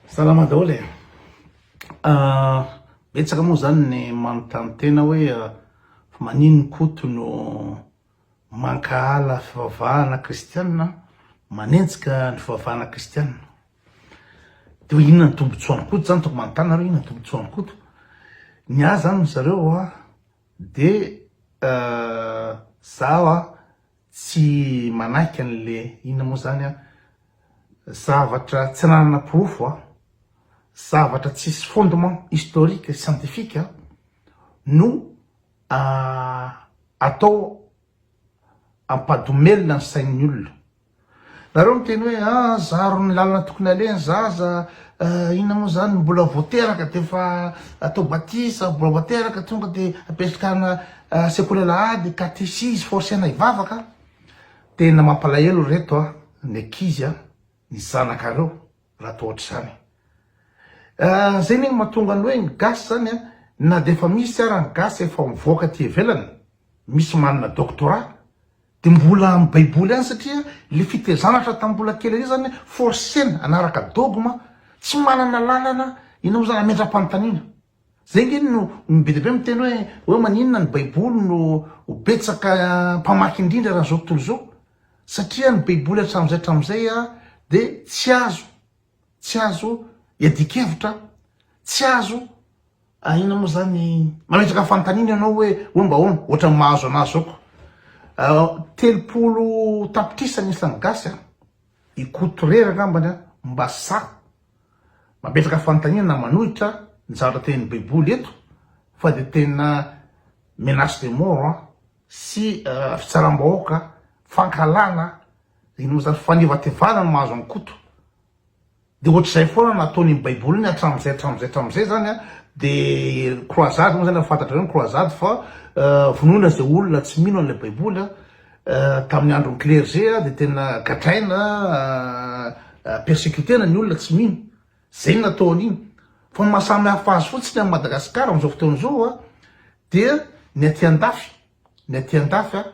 Salama daholo e! Betsaka moa zany ny manontany tena hoe manin ny Koto no mankahala fivavahana kristiana, manenjika ny fivavahana kristiana. De hoe inona ny tombotsoan'i Koto zany, tokony manontany nareo inona ny tombotsoan'i Koto. Ny ahy zany ry zareo a, de zaho a, Tsy manaiky an'le inona moa zany aho. Zavatra tsy ananana porofo a, zavatra tsisy fondement historique scientifique no atao ampadomelina ny sain'ny olona. Nareo miteny hoe ah zaro ny lalana tokony aleha ny zaza ah inona moa zany mbola vao teraka de efa atao batisa mbola vao teraka tonga de apetrkana sekoly alahady katesizy forcena hivavaka tena mampalahelo reto ah ny ankizy ah ny zanakareo raha toa ohatr'izany ah zay anie mahatonga ny hoe ny gasy zany ah na de efa misy ara ny gasy efa mivoaka aty ivelany misy manana doctorat Dia mbola amin'ny baiboly ihany satria ilay fitezana hatry ny tamin'ny mbola kely ery izany forcer-na hanaraka dogme tsy manana lalana ianao izany hamindram-panontaniana. Izay ange no ny be dia be miteny hoe hoe maninona ny baiboly no betsaka mpamaky indrindra raha izao tontolo izao satria ny baiboly hatramin'izay hatramin'izay dia tsy azo Tsy azo iadian-kevitra, tsy azo, inona moa izany, mametraka fanontaniana ianao hoe homba ahoana, ohatran'ny mahazo an'ahy izao ko. Telopolo tapitrisa ny isan'ny gasy an! I Koto irery angambany an! mba sa mametraka fanontaniana na manohitra ny zavatra tenin'ny baiboly eto fa dia tena menace de mort an! sy fitsaram-bahoaka, fankahalana, inona zany, fanevatevana no mahazo an'i Koto. Dia ohatr'izay foana no ataony amin'ny baiboliny hatramin'izay hatramin'izay hatramin'izay zany an, dia croisade moa zany efa fantatrareo ny croisade fa vonoina izay olona tsy mino an'ilay baiboly an, tamin'ny andron'ny clergé dia tena gadraina, persecuter-na ny olona tsy mino. Izay no nataony iny. Fa ny maha samy hafa azy fotsiny amin'i Madagasikara amin'izao fotoana izao an, dia ny aty an-dafy, ny aty an-dafy an,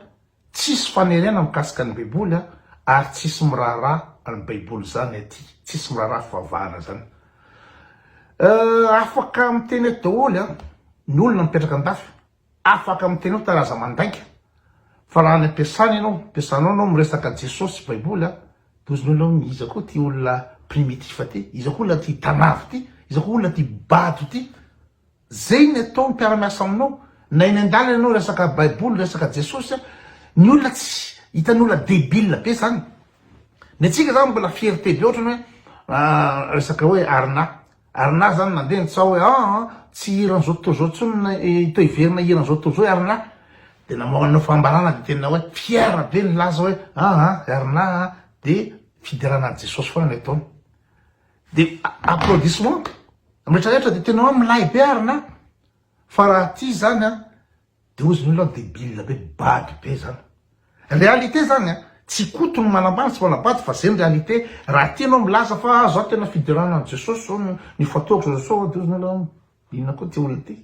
tsisy faniriana mikasika ny baiboly an, ary tsisy miraharaha an'ny baiboly izany aty, tsisy miraharaha fivavahana izany. Afaka miteny eto daholo an, ny olona mipetraka an-dafy, Afaka miteny hoe tary aza mandainga fa raha any ampiasana ianao, ampiasanao anao miresaka Jesosy sy baiboly a, de ozy nao le iza koa ty olona primitif ty, iza koa olona tia tanavo ty, iza koa olona tia bado ty, zay ny atao ny mpiara miasa aminao na eny andalana ianao resaka baiboly resaka Jesosy a, ny olona tsy hitany olona debile be zany, ny antsika zany mbola fierté be otrany hoe resaka hoe arina Ary na zany mandeha ny tsaho hoe aa tsy hiran zao tontolo zao tsony na to hiverina hiran zao tontolo zao i Arna de na manao fanambarana de tena hoe fier be nilaza hoe aa i Arna a de fiderana any Jesosy foana ny ataony de applaudissement am retraretra de tena hoe milay be Arna fa raha ty zany a Deoziny io leroa debile be bado be zany. Réalité zany a, tsy Koto no manambany sy manabado fa zay ny réalité, raha aty enao milaza fa ah zao tena fiderana an'i Jesosy zao no nifantohako zao zao, deoziny aloha an, inona koa ty olona ty?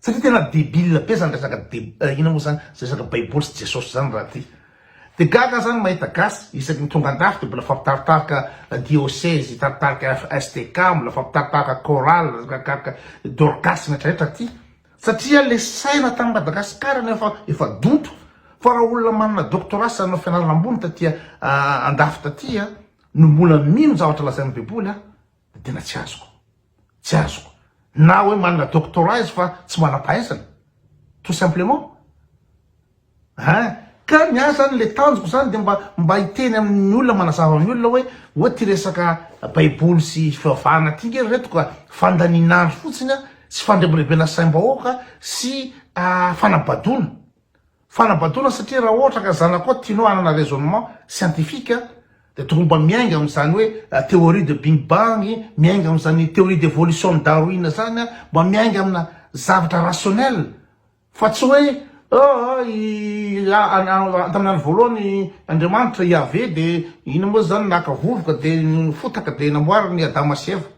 Satria tena debile be zany resaka de inona moa zany zay resaka baiboly sy Jesosy zany raha ty. De gaga za ny mahita gasy isaky ny tonga andafy de mbola fampitaritarika diosezy, hitaritarika FSTK, mbola fampitaritarika chorale, dorcas, ny retraretra aty, Satria le saina tany Madagascar anie efa efa donto fa raha olona manana doctorat sy nanao fianarana ambony taty andafy taty a no mbola mino zavatra lazain'ny baiboly a de tena tsy azoko tsy azoko na hoe manana doctorat izy fa tsy manam-pahaizana tout simplement Hein! Ka ny ahy zany le tanjoko zany de mba mba hiteny amin'ny olona manazava amin'ny olona hoe oa ty resaka baiboly sy fivavahana ty nge ry reto ka fandanian'andro fotsiny a, sy fandrebirebena saim-bahoaka sy fanabadoana, fanabadoana satria raha ohatra ka zanakao tianao hanana raisonnement scientifique de tokony mba miainga amin'izany hoe theorie de bing bang, miainga amin'izany theorie d'evolution-n'i Darwin zany, mba miainga amina zavatra rationnel. Fa tsy hoe aa i antamin'andro voalohany Andriamanitra, Yaveh, dia inona moa izany naka vovoka dia fotaka dia namboariny i Adama sy Eva.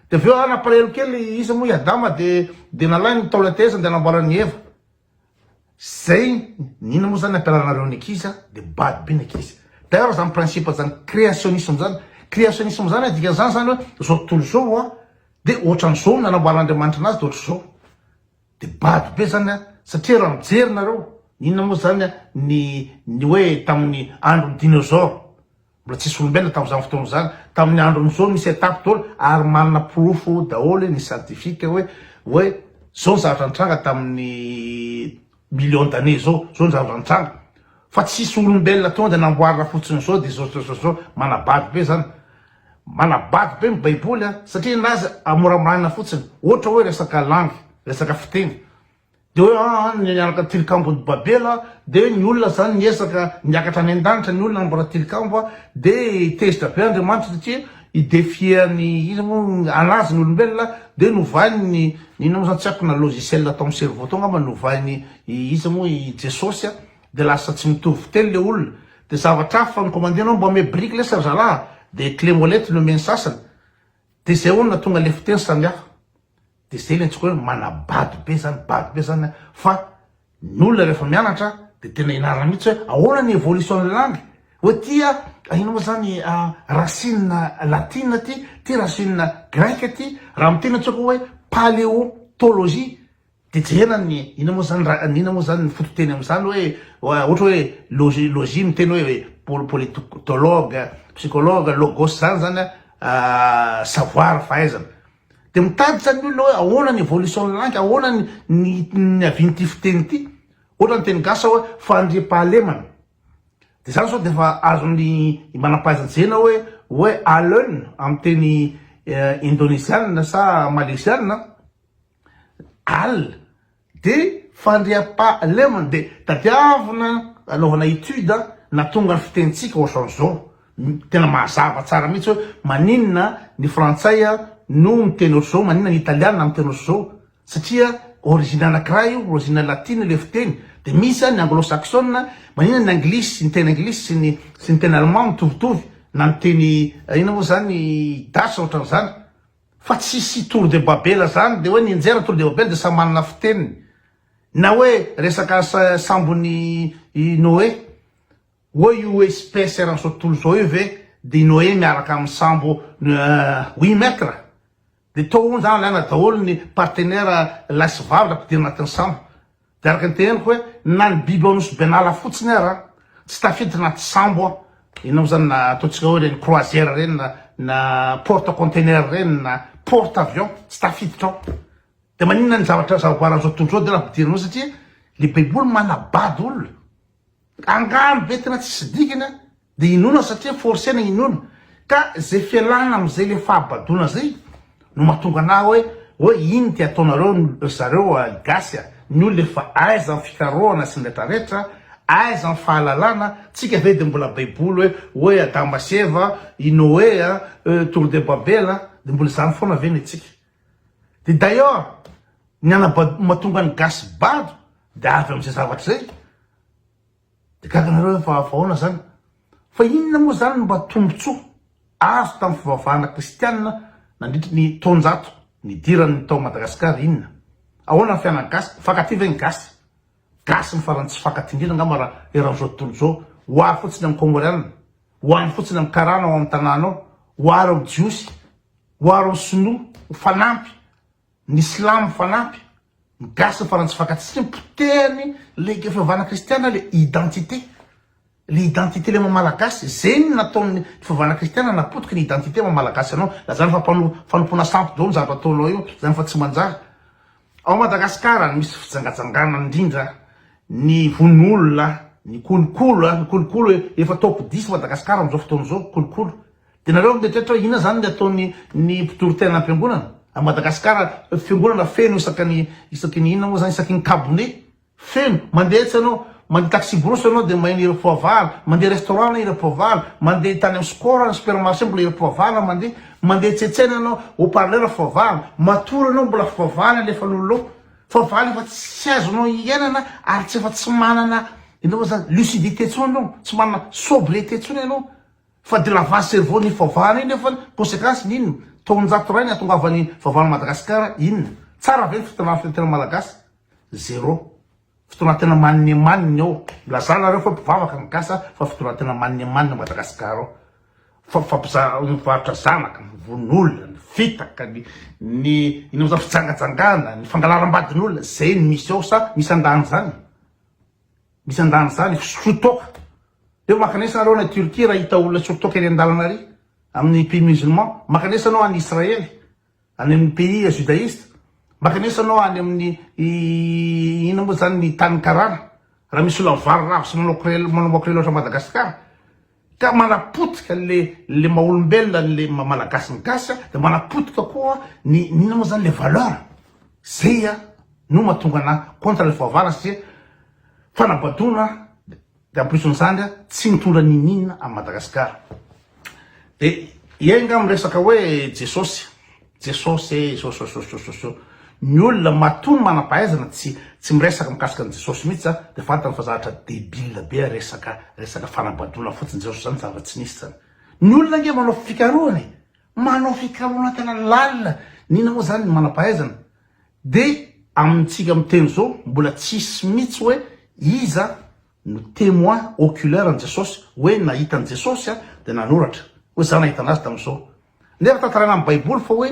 Dia avy eo aa nampalahelo kely iza moa i Adama dia dia nalainy ny taola tehezany dia namboarany i Eva. Zay ny inona moa izany ampianaranareo ny ankizy a, dia bado be ny ankizy. D'ailleurs izany principe izany créationnisme izany, créationnisme izany a dikan'izany izany hoe izao tontolo izao a dia ohatran'izao no nanamboaran'Andriamanitra anazy dia ohatran'izao. Dia bado be zany an! Satria raha mijery nareo, inona moa zany an ny ny hoe tamin'ny andron'ny dinosaures? Mbola tsisy olombelona tamin'izany fotoana izany. Tamin'ny andron'izao nisy étape daholo ary manana porofo daholo ny scientifique hoe hoe zao ny zavatra nitranga tamin'ny millions d'années zao, zao ny zavatra nitranga. Fa tsisy olombelona tonga dia namboarina fotsiny zao dia zao zao zao zao. Manabado be zany. Manabado be ny baiboly a! satria ny azy amoramorana fotsiny ohatra hoe resaka langue, resaka fiteny de hoe an an ny nianaka tilikambon'i babela de ny olona zany niezaka niakatra any an-danitra ny olona mbola tilikambo a! de tezitra be Andriamanitra satria i defier ny iza mo anazy ny olombelona de novainy ny inona mo zany tsy haiko na logiciel tao amin'ny cerveau tao ngamba novainy i iza mo i Jesosy a! de lasa tsy mitovy teny le olona de zavatra hafa fa ny commandinao mba ome brique lesy ry zalaha de clé molette no omen'ny sasany de zay olona tonga le fiteny samy hafa de zay le antsoiko hoe manabado be zany bado be zany fa ny olona refa mianatra de tena ianarana mitsy hoe ahoana ny evolution ny langue hoe ty a ino moa zany racine latine ty ty racine grecque ty raha miteny antsoiko hoe paleontologie Dia jerena ny, inona moa izany ra, inona moa izany ny fototeny amin'izany hoe, ohatra hoe logi, logie miteny hoe pol, politologue, psychologue, logos izany izany an, savoir, fahaizana. Dia mitady izany ny olona hoe ahoana ny evolution-n'ny langue, ahoana ny, ny, ny niavian'ity fiteny ity. Ohatra ny teny gasy zao hoe fandriampahalemana. Dia izany sao dia efa azon'ny manam-pahaiza-jerena hoe, hoe alun amin'ny teny indonezianina sa malezianina an. Al. Dia fandriampahalemana dia tadiavina anaovana étude na tonga ny fitenintsika ohatran'izao, tena mazava tsara mihitsy hoe maninona ny frantsay no miteny ohatr'izao, maninona ny italiana miteny ohatr'izao, satria origine anankiray io, origine latina ilay fiteny, dia misy ny anglo saksona, maninona ny anglisy, ny teny anglisy sy ny sy ny teny allemand mitovitovy, na ny teny inona moa izany, gasy ohatran'izany. Fa tsisy tour de babela zany de hoe nianjera tour de babela de samy manana fiteniny na hoe resaka sambon'i Noe oa io hoe espèce eran'izao tontolo izao io ve de i Noe miaraka amin'ny sambo oui maître de tao hono zany alaina daholo ny partenaire lahy sy vavy raha ampidirina anatin'ny sambo Dia araka ny teneniko hoe na ny biby ao Nosy Benala fotsiny ara tsy tafiditra anaty sambo an! Ianao izany na ataontsika hoe ireny croisière ireny na na porte container ireny na porte avion tsy tafiditra ao. Dia maninona ny zavatra zavaboary an'izao tontolo izao dia tena ampidirina ao satria ny baiboly manabado olona. Angano be tena tsisy dikany an! Dia inoana satria forcena inoana, ka zay fialana amzay le fahabadoana zay no mahatonga anah hoe hoe inn ty ataonareo ry zareo a i gasy a, ny olona efa aiza ny fikarohana sy ny retraretra, aiza ny fahalalana, tsika ve dia mbola baiboly hoe hoe adama sy eva, i noe a, e tour de babela, dia mbola izany foana ve ny antsika. Dia d'ailleurs ny anabad mahatonga ny gasy bado dia avy amzay zavatra zay, De gaga nareo fa ahoana zany? Fa inona moa zany no mba tombotsoa azo tamin'ny fivavahana kristianina nandritry ny taonjato nidirany tao Madagascar inona? Ahoana ny fianany gasy? Mifankatia ve ny gasy? Gasy ny farany tsy mifankatia indrindra angamba raha eran'izao tontolo izao. Ho ahy fotsiny amin'ny Kôngôreana, ho ahy fotsiny amin'ny Karana ao amin'ny tanànao, ho ahy ireo Jiosy, ho ahy ireo Sinoa ho fanampy Ny silamo fanampy, ny gasy ny farantsy fakantsika ny potehany le ke fiovana kristiana le identité le identité le maha malagasy zegny ny nataony fiovana kristiana napotiky ny identité maha malagasy anao na zany fa mpano fanompoana sampy daolo zavatra ataonao io zany fa tsy manjary ao Madagascar ny misy fijangajangana indrindra ny vono olona ny kolokolo ny kolokolo efa top dix Madagascar amizao fotoana zao kolokolo Dia nareo mieritreritra hoe inona izany ny ataon'ny ny mpitory tena am-piangonana? A Madagasikara, fiangonana feno isaka ny isaky ny inona moa izany, isaky ny kabone, feno. Mandeha etsy ianao, mandeha taxi-brousse ianao dia may ny hiram-poavahana, mandeha restaurant ny hiram-poavahana, mandeha tany amin'ny score, ny supermarché mbola hiram-poavahana mandeha, mandeha etsy etsy any ianao, haut-parleur foavahana, matory ianao mbola foavahana alefan'olona ao. Foavahana efa tsy azonao iainana ary tsy efa tsy manana inona moa izany, lucidité intsony ianao, tsy manana sobriété intsony ianao. Fa de lavage cerveau ny faovana io nefa conséquence ny inona? Taonjato iray ny atongavan'ny faovana Madagascar inona? Tsara ve ny fitondrana firenena Malagasy? Zero. Fitondratena maninemanina eo. Milazà nareo fa mpivavaka ny gasy fa fitondratena maninemanina ao Madagascar ao. Fampizarana mivarotra zanaka, mivono olona, ny fitaka, ny ny inona moa zany fijangajangana, ny fangalaram-badin'olona, zay no misy ao sa misy andaniny zany? Misy andaniny zany fisotro toaka. Eo makanesa nareo any Turquie raha hita olona hisotro toaka eny andalana ary amin'ny pays musulman. Makanesa anao any Israel, any amin'ny pays judaiste. Makanesa anao any amin'ny inona moa zany ny tany karana raha misy olona vary rava sy manao crel, manao makrely ohatran'i Madagascar. Ka manapotika le le maha olombelona ny le maha malagasy ny gasy a, de manapotika koa ny ny inona moa zany le valeur, zay a no mahatonga anah contre le fahavalo satria fanabadoana de en plus n'izany a tsy mitondra niniana à Madagascar, de iay nga miresaka hoe Jesosy. Jesosy ee sosososososoo ny olona matoa ny manampahaizana tsy tsy miresaka mikasika an'i Jesosy mihitsy zany dia fantany fa zavatra debile be resaka resaka fanabadoana fotsiny Jesosy zany zava tsy nisy zany ny olona ange manao fikarohana e manao fikarohana tena lalina ny inona moa zany ny manampahaizana dia amintsika miteny zao mbola tsisy mihitsy hoe iza no temoin oculaire an'i Jesosy hoe nahita an'i Jesosy a, dia nanoratra hoe za nahita anazy tamin'izao. Nefa tantaraina amin'ny baiboly fa hoe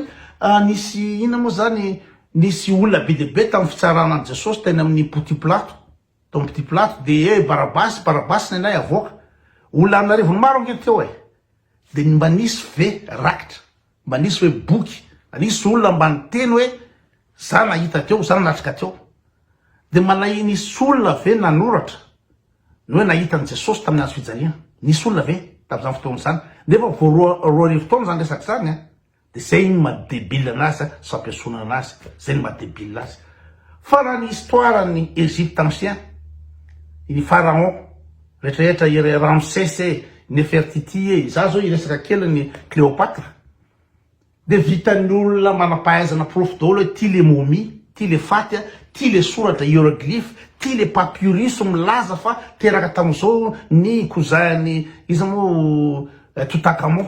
nisy inona moa zany, nisy olona be dia be tamin'ny fitsarana an'i Jesosy teny amin'ny Pontio Pilato, tao amin'ny Pontio Pilato dia ee Barabasy, Barabasy ny anay avoaka. Olona an'arivony maro ange ny teo e! Dia mba nisy ve rakitra? Mba nisy hoe boky, nisy olona mba niteny hoe za nahita teo, za nanatrika teo. Dia mba nahi nisy olona ve nanoratra ny hoe nahita an'i Jesosy tamin'ny hazo fijaliana? Nisy olona ve tamin'izany fotoana izany? Nefa vao roa roa arivo taona izany resaka izany an! Dia izay ny maha debile anazy an, sy fampiesonana anazy, izay ny maha debile azy. Fa raha ny histoire an'i Egypte ancien, i Pharaon, Retraretra i Ramsese e, Nefertiti e, izaho izao hiresaka kely an'i Cléopâtre, dia vitan'ny olona manam-pahaizana porofo daholo hoe ity ilay momie, ity ilay faty, ity ilay soratra hieroglyphe, ity ilay papyrus milaza fa teraka tamin'izao ny cousin-n'i iza moa Toutankhamon.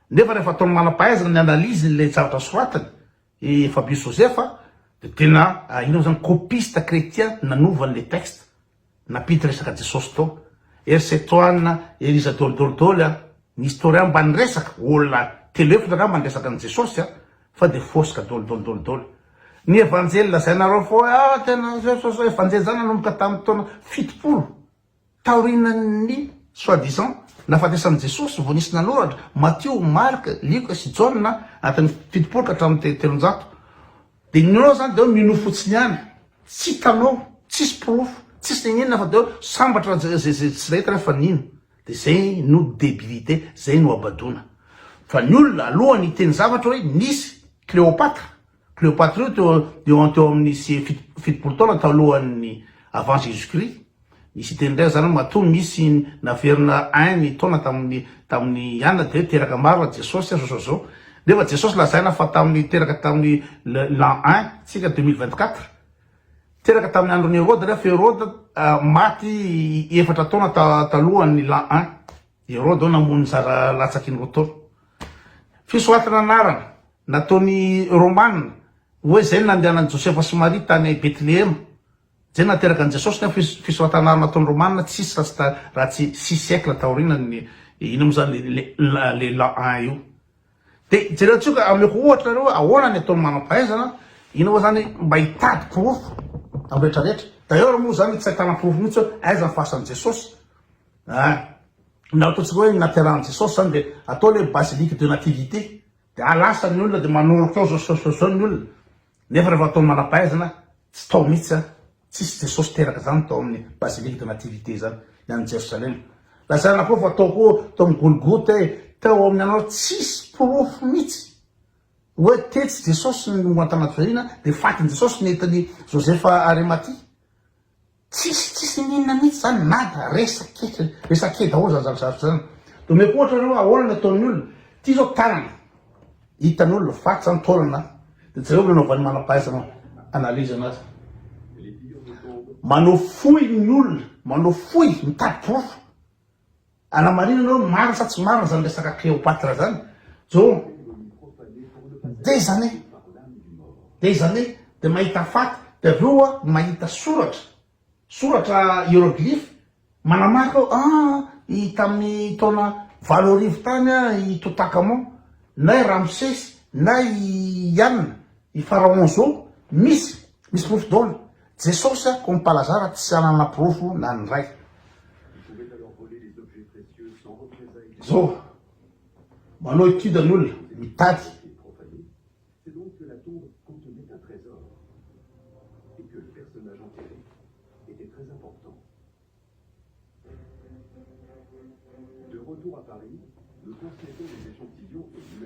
Nefa rehefa ataon'ny manam-pahaizana ny analyse n'ilay zavatra soratany i Fabius Joseph dia tena ianao zany copiste chrétien nanova an'ilay texte nampiditra resaka Jesosy tao. Ery Setohana, ery iza dôly dôly dôly a! Ny historien mba niresaka, olona telo efatra angamba niresaka an'i Jesosy a! Fa dia fôsika dôly dôly dôly dôly. Ny Evanjely lazainareo foa hoe ah tena Jesosy evanjely zany nanomboka tamin'ny taona fitopolo. Taorian'ny soit disant nahafatesan'i Jesosy vao nisy nanoratra, Matio, Marka, Lioka sy Jaona, anatin'ny fitopolo ka hatramin'ny telonjato. Dia ny ninoanao izany dia hoe minoa fotsiny ihany, tsy hitanao, tsisy porofo, tsisy niniana fa dia hoe sambatra izay tsy nahita nefa fa nino. Dia izay no debilité, izay no habadoana. Fa ny olona alohan'ny hiteny zavatra hoe nisy Cléopâtre, Cléopatrio teo teo an teo amin ny sy fito fitopolo taona talohan ny avant jesus christ Misy hiteny indray zany hoe matoa misy naverina un ny taona tamin ny tamin ny ianna dia teraka maro ra jesosy a zao zao nefa jesosy lazaina fa tamin ny teraka tamin ny le l'an un tsika deux mille vingt quatre teraka tamin ny andron i heroda nefa heroda maty efatra taona ta talohan ny l'an un. Herode ao namono ny zara latsaky ny Rotor. Fisoratana anarana nataon'ny Romana hoe izay no nandehanan'i Josefa sy Maria tany Betlehema. Izay no nateraka an'i Jesosy nefa fisoratana anarana nataon'ny Romana tsy hisy raha tsy six siècles taorianan'ny inona moa izany ilay l'an un io. Dia jerentsika ka ameko ohatra nareo ahoana ny ataon'ny manam-pahaizana inona moa izany mba hitady porofo amin'ny rehetra rehetra. D'ailleurs moa izany tsy ahitana porofo mihitsy hoe aiza ny fasan'i Jesosy. Eeh! na ataontsika hoe naterahan'i Jesosy zany dia atao ilay basilique de nativité dia à lasa ny olona dia manoroka eo zao zao zao ny olona nefa rehefa atao manam-pahaizana tsy tao mihitsy zany, tsisy Jesosy teraka zany tao amin'ny basilique de nativité zany ny any Jerosalema, lazaina koa fa tao koa tao amin'ny Golgota e, tao amin'ny anao, tsisy porofo mihitsy hoe tetsy Jesosy no an-tanaty fahina dia fatin'i Jesosy nentin'i Joseph Arimathie. Tsisy tsisy n'inona mihitsy zany nada resa keke resa ke daholo zany zava-javatra zany domeko ohatra anao ahoana ny ataon'ny olona ty zao tanana hitan'olona faty zany taolana de jereo ny anaovan'ny manam-pahaizana analyse anazy manao fohy ny olona manao fohy mitady porofo Anamarinana hoe marina sa tsy marina zany resaka Cléopatre zany Joe des années des années de mahita faty de avy eo a mahita soratra soratra hieroglyphe manamarika hoe ah i tamin'ny taona valo arivo tany a i Toutankhamon na i Ramsesy na i Ianona i Pharaon Zo misy misy porofo daholo Jesosy a ko mpalazara tsy anana porofo na ny ray. Zao manao étude ny olona mitady.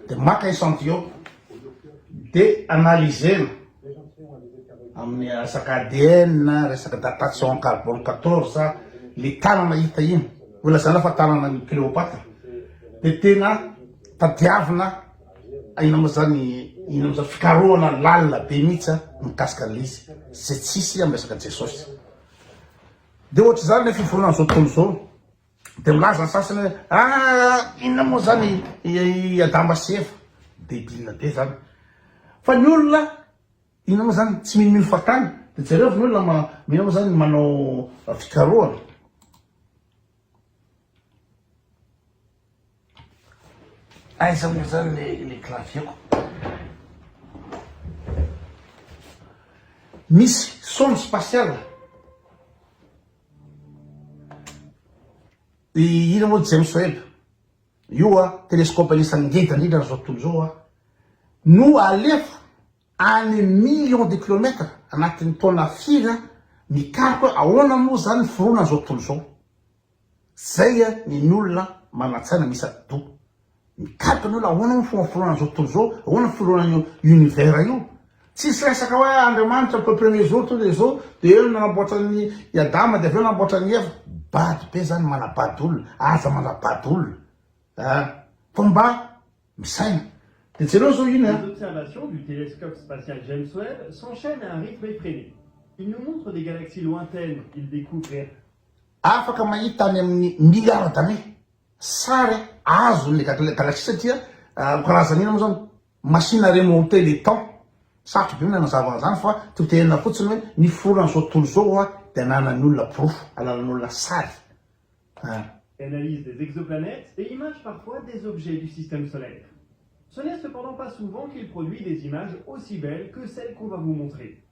Dia maka echantillon dia analyser-na amin'ny resaka ADN, resaka datation carbone 14, ny tanana hita iny, holazana fa tananan'i Cléopâtre, dia tena tadiavina ina moa zany ina moa zany fikarohana lalina be mihitsy mikasika an'ilay izy, izay tsy hisy amin'ny resaka Jesosy. Dia ohatr'izany ilay fiforonan'izao tontolo izao. Dia milaza ny sasany hoe ah inona moa izany i Adama sy Eva. Debile be izany. Fa ny olona inona moa izany tsy minomino fahatany. Dia jereo fa ny olona inona moa izany manao fikarohana. Aiza moa zany le le clavier-ko? Misy sonde spatiale. I ino moa James Webb io a, telescope anisan'ny ngeda indrindra am'zao tontolo zao a, no alefa any millions de kilomètres anatin'ny taona firy a, mikaroka ahoana moa zany ny fironan'zao tontolo zao. Zay a ny nolona manatsaina misa do. Mikaroka ny olona ahoana moa fomba fironana zao tontolo zao, ahoana ny fironana io univers io. Tsisy resaka hoe Andriamanitra peu premier jour tonga de zao de eo no nanamboatra ny i Adama de avy eo nanamboatra an'i Eva. Bado be zany manabado olona, aza manabado olona a! Fa mba misaina. De jereo zao iny Les a! observations du télescope spatial James Webb s'enchaînent à un rythme effréné. Ils nous montrent des galaxies lointaines, ils découvrent. Afaka mahita any amin'ny milliards d'années sary azon'ny galaxie satria ho karazana inona moa izany? Machine à remonter le temps. Sarotra be ny nanazava an'izany fa toteana fotsiny hoe niforona an'izao tontolo izao ho'a dia ananan'ny olona porofo alalan'olona sary an. Analyse des exoplanètes et image parfois des objets du système solaire. Ce n'est cependant pas souvent qu'il produit des images aussi belles que celles qu'on va vous montrer.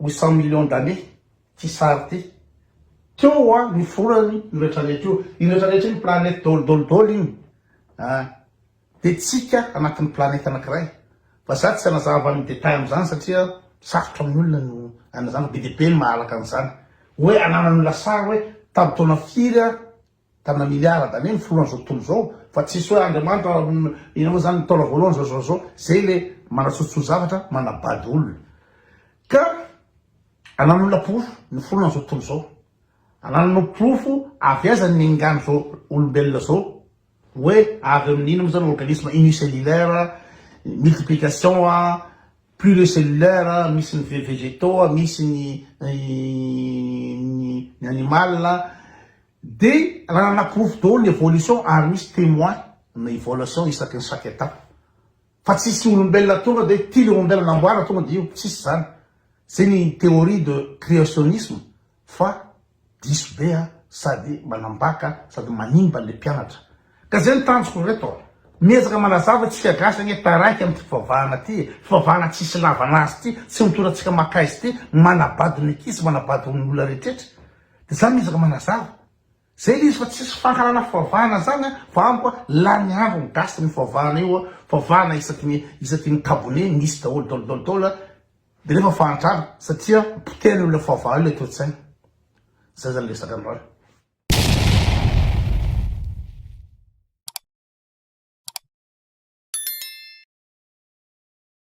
ho cent millions d'années ty sary ty. Teo hoa ny forany io rehetra rehetra io. Io rehetra rehetra io ny planète dôly dôly dôly iny an! Dia tsika anatin'ny planète anankiray. Fa za tsy hanazava ny détails amin'izany satria sarotra amin'ny olona ny hanazava, be dia be ny mahalaka an'izany. Hoe ananan'ny lasary hoe tamin'ny taona firy an! Tana milliard d'années ny filohan'izao tontolo izao fa tsisy hoe Andriamanitra ino moa zany ny taona voalohany zao zao zao zay le manatsotso zavatra manabado olona ka anan'olona porofo ny filohan'izao tontolo izao anananao porofo avy aiza ny engan'izao olombelona zao hoe avy amin'ny ino moa zany organisme unicellulaire multiplication a pluricelulaire misy ny ve- végétaux misy ny ny ny animal Dia nanana porofo daholo ny evolution ary misy temoin na evolution isaky ny chaque etape. Fa tsisy olombelona tonga dia hoe ty le olombelona namboarina tonga dia io, tsisy zany. Zay ny theorie de creationisme fa diso be a, sady manambaka sady manimba le mpianatra. Ka zay ny tanjoko ry reto a, miezaka manazava isika gasy anie taraiky am ty fivavahana ty e, fivavahana tsisy ilavana azy ty, tsy mitora antsika makaizy ty, manabado ny ankizy, manabado ny olona rehetretra. Zany izy ry manazava. Zay le izy fa tsisy fankahalana fivavahana zany a, fa amiko a lany andro ny gasy ny fivavahana io a, fivavahana isaky ny isaky ny kabone misy daholo dol dol dol a, de nefa fahantrana satria potehiny io le fivavahana io le toetsaina. Zay zany resaka androany.